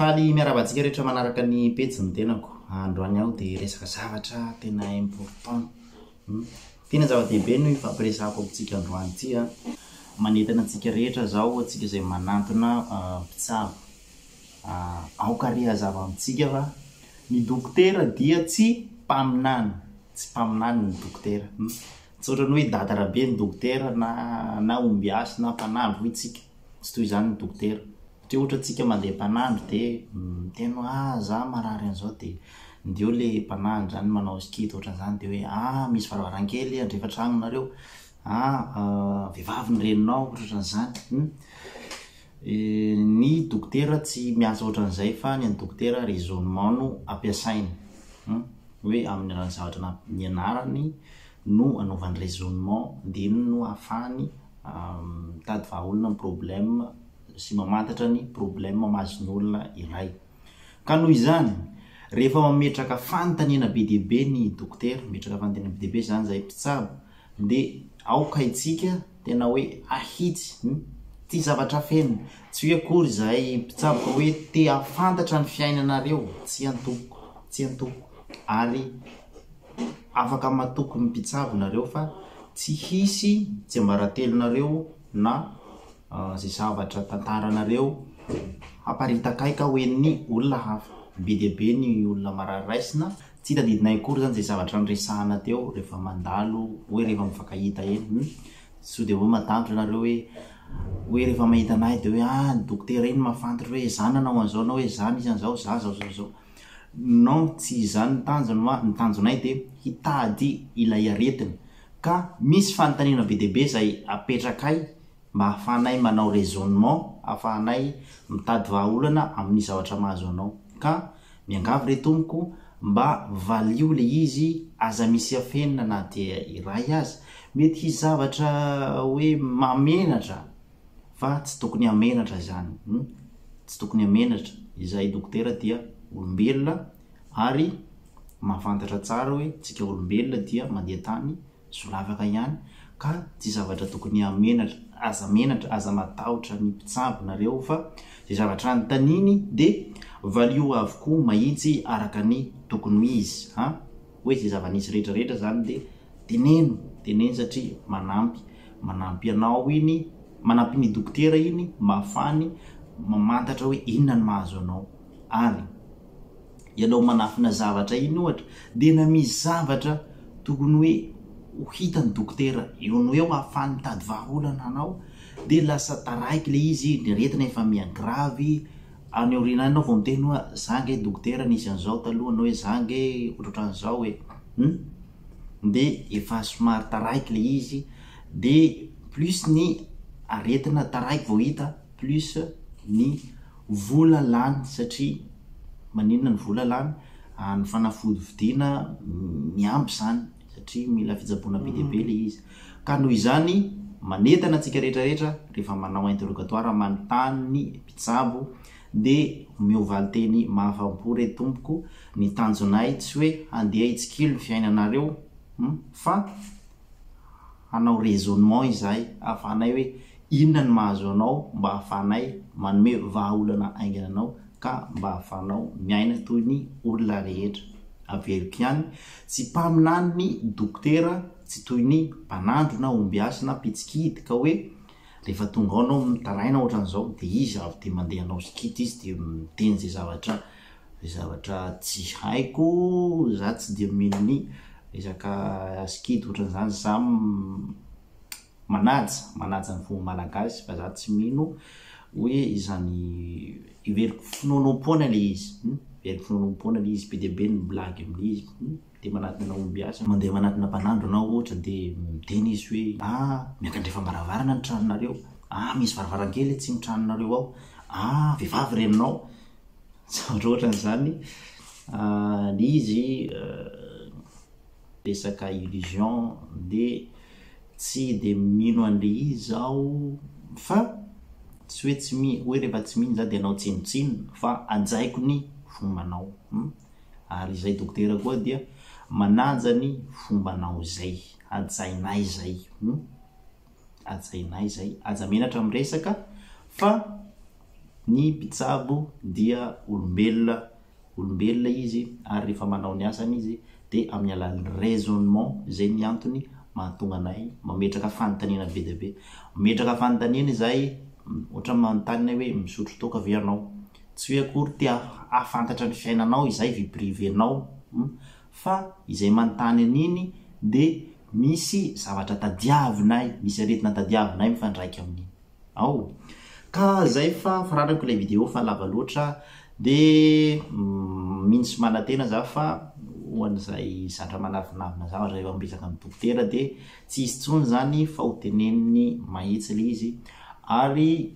Faly miarahaba antsika rehetra manaraka ny pejy ny tenako. Androany aho dia resaka zavatra tena important. Hmm. Tena zava-dehibe no ifampiresahako amintsika androany ity. Ah. Manentana antsika rehetra zao, antsika izay manantona ah, mpitsabo. Aoka re hazava amintsika fa ny dokotera dia tsy mpaminany, tsy mpaminany ny dokotera. Tsy ohatran'ny hoe dada rabe ny dokotera na na ombiasy na mpanandro hoy tsika. Tsy toy izany ny dokotera. Satria ohatra tsika mandeha mpanandro dia miteny hoe ah za marary an'izao dia ndeha eo le mpanandro zany manao skid ohatran'izany dia hoe ah misy varavarankely andrefa tragnonareo ah vehivavy ny reninao ohatrohatran'izany. Ny dokotera tsy miasa ohatran'izay fa ny an'ny dokotera raisonnement no ampiasainy hum hoe amin'ny alalan'ny zavatra na- nianarany no anaovany raisonnement dia iny no ahafahany mitady vahaolana ny problème sy mamantatra ny problème mahazo ny olona iray. Ka noho izany, rehefa mametraka fanontaniana be dia be ny dokotera, mametraka fanontaniana be dia be izany izahay mpitsabo dia aoka itsika Tena hoe ahitsy ny ity zavatra feno. Tsy hoe akory izahay mpitsabo fa hoe te hahafantatra ny fiainanareo tsy antoko tsy antoko ary afaka matoky ny mpitsabo nareo fa tsy hisy tsiambaratelonareo na izay zavatra tantaranareo haparitaka ahy ka hoen'ny olona hafa. Be dia be ny olona marary raisina. Tsy tadidinay akory zany zay zavatra niresahana teo rehefa mandalo hoe rehefa mifankahita eny hum sao dia hoe matanjora ianareo hoe hoe rehefa mahita anay dia hoe ah ny dokotera iny mahafantatra hoe zah nanao an'izao na hoe zah nisy an'izao zah zao zao zao non tsy izany ny tanjony hoa ny tanjonay dia hitady ilay aretina ka misy fanontaniana be dia be izay apetrakay mba hahafahanay manao raisonnement hahafahanay mitady vahaolana amin'ny zavatra mahazo anao ka Miangavy re tompoko mba valio le izy aza misy afenina na dia iray aza, mety hisy zavatra hoe mahamenatra fa tsy tokony hamenatra izany hum tsy tokony hamenatra, izahay dokotera dia olombelona ary mahafantatra tsara hoe tsika olombelona dia mandeha tany solavaka ihany ka tsy zavatra tokony hamenatra, aza menatra, aza matahotra ny mpitsabo nareo fa zay zavatra anontaniny de valio avokoa mahitsy araka ny tokony ho izy an! hoe zay zava-nisy rehetra rehetra zany de teneno, teneno satria manampy, manampy anao iny, manampy ny dokotera iny mba afahany mamantatra hoe inona ny mahazo anao ary. ianao manafina zavatra iny ohatra dia na misy zavatra tokony hoe ho hitan'ny dokotera eo no eo ahafahany mitady vahaolana anao dia lasa taraiky ilay izy, ny aretina efa miha gravy, any aoriana any ianao vao miteny hoa za nge dokotera nisy an'izao taloha na hoe za nge ohatrohatran'izao e! hum! dia efa somary taraiky ilay izy dia plus ny aretina taraiky vao hita plus ny Vola lany satria maninona ny vola lany? Ny fanafody vidiana miampy izany satria mila fitsaboana be dia be ilay izy. Ka noho izany, manentana antsika rehetra rehetra rehefa manao interrogatoire manontany ny mpitsabo dia omeo valin-teny mahafapo re tompoko, ny tanjonay tsy hoe handeha hitsikilo ny fiainanareo fa. hanao raisonnement izahay hahafahanay hoe inona ny mahazo anao mba hahafahanay manome vahaolana haingana anao ka mba hahafahanao miaina toy ny olona rehetra. Averiko ihany, tsy mpaminany ny dokotera, tsy toy ny mpanandro na ombiasy na mpitsikity ka hoe rehefa tonga ao ianao mitaraina ohatran'izao dia izy avy dia mandeha hanao sikity izy dia miteny izay zavatra Zavatra tsy haiko, za tsy dia mino ny resaka sikidy otran'izany, za manaja, manaja ny fomba malagasy fa za tsy mino hoe izany, heveriko finoanoam-poana le izy, heveriko finoanoam-poana le izy, be dia be ny blagy amle izy, de manatona ombiasa, mandeha manatona mpanandro anao ohatra de miteny izy hoe ah miakandrefa varavarana ny tranonareo, ah misy varavarankely atsimo tranonareo ao, ah vehivavy renao, Tsara ohatrany izany le izy resaka illusion de tsy de mino an'le izy aho fa tsy hoe tsy mino hoe rehefa tsy mino za de anao tsinontsinona fa hajaiko ny fombanao ary izay dokotera koa dia manaja ny fombanao izay hajainay zay. Hajainay izay, aza menatra amin'ny resaka fa ny mpitsabo dia olombelona, olombelona izy ary rehefa manao ny asany izy dia amin'ny alalan'ny raisonnement izay ny antony mahatonga anay mametraka fanontaniana be dia be. Mametraka fanontaniana izahay, ohatra manontany anay hoe misotro toaka ve ianao? Tsy hoe akory te hahafantatra ny fiainanao izay, vie privée-nao, fa izay manontany an'iny dia misy zavatra tadiavinay, misy aretina tadiavinay mifandraika amin'iny ao. Ka zay fa faranako ilay video fa lava loatra dia mino sy manantena za fa ho an'izay zatra manavinavina zavatra rehefa miresaka amin'ny dokotera dia tsy hisy intsony zany fa ho teneniny mahitsy ilay izy ary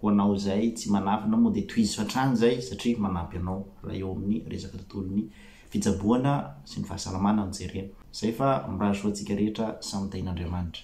Ho anao izay tsy manafina moa dia tohizo hatrany izay satria manampy anao raha eo amin'ny resaka tontolon'ny fitsaboana sy ny fahasalamana no jerena. Izay fa mirary soa antsika rehetra samy tahin'Andriamanitra.